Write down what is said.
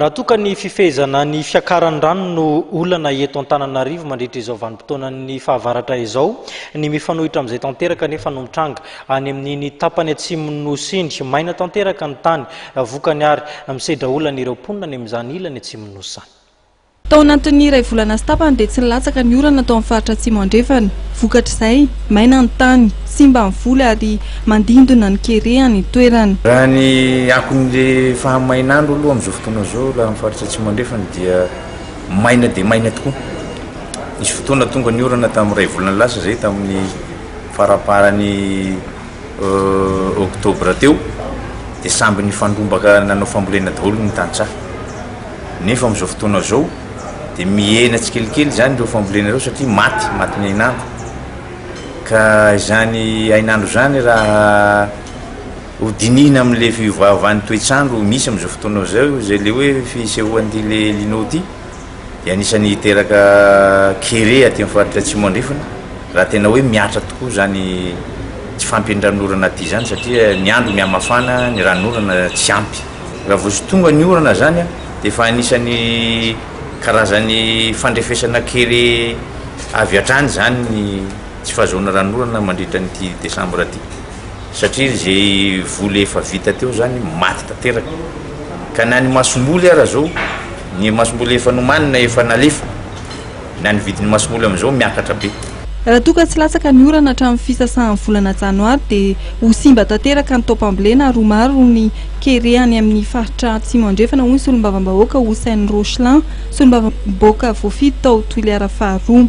Raha toa ka ny fifehezana ny fiakaran'ny rano no olana eto Antananarivo mandritra izao vanim-potoanan'ny fahavaratra izao, ny mifanohitra amin'izay tanteraka anefa no mitranga any amin'iny tapany atsimon'ny Nosy iny. Maina tanteraka ny tany, vokany ary misedra olana ireo mponina any amin'izany ilany atsimon'ny Nosy izany. Tao anatin'ny iray volana sy tapany dia tsy nilatsaka ny orana tao amin'ny faritra Atsimo Andrefana. Vokatr'izay, maina ny tany, simba ny voly ary mandindona ny kere any an-toerana. Raha ny akon'ilay fahamainandro aloha amin'izao fotoana izao raha ny faritra Atsimo Andrefana dia maina dia maina tokoa. Nisy fotoana tonga ny orana tamin'ny iray volana lasa izay tamin'ny faramparan'ny oktobra teo dia samby nifandrombaka nanao fambolena daholo ny tantsaha. Nefa amin'izao fotoana izao dia mihena tsikelikely izany ireo fambolena ireo satria maty, matin'ny hainandro. Ka izany hainandro izany raha hodinihina amin'ilay fiovaovan'ny toetr'andro misy amin'izao fotoana izao izay ilay hoe fisehoan'ity ilay El Nino ity dia anisan'ny hiteraka kere aty amin'ny faritra Atsimo Andrefana raha tena hoe mihatra tokoa izany tsy fahampian'ny ranon'orana aty izany satria ny andro mihamafana, ny ranon'orana tsy ampy. Raha vao tsy tonga ny orana izany dia efa anisan'ny karazan'ny fandrefesana kely avy hatrany izany ny tsy fahazoana ranon'orana mandritra an'ity desambra ity satria izay voly efa vita teo izany maty tanteraka ka na ny masomboly ara zao ny masomboly efa nomanina efa nalefa na ny vidin'ny masomboly amin'izao miakatra be. Raha toa ka tsy latsaka ny orana hatramin'ny fisasahan'ny volana janoary dia ho simba tanteraka ny taom-pambolena ary ho maro ny kere any amin'ny faritra Atsimo Andrefana, hoy ny solombavambahoaka Houcène Rocheland, solombavambahoaka voafidy tao Toliara faharoa.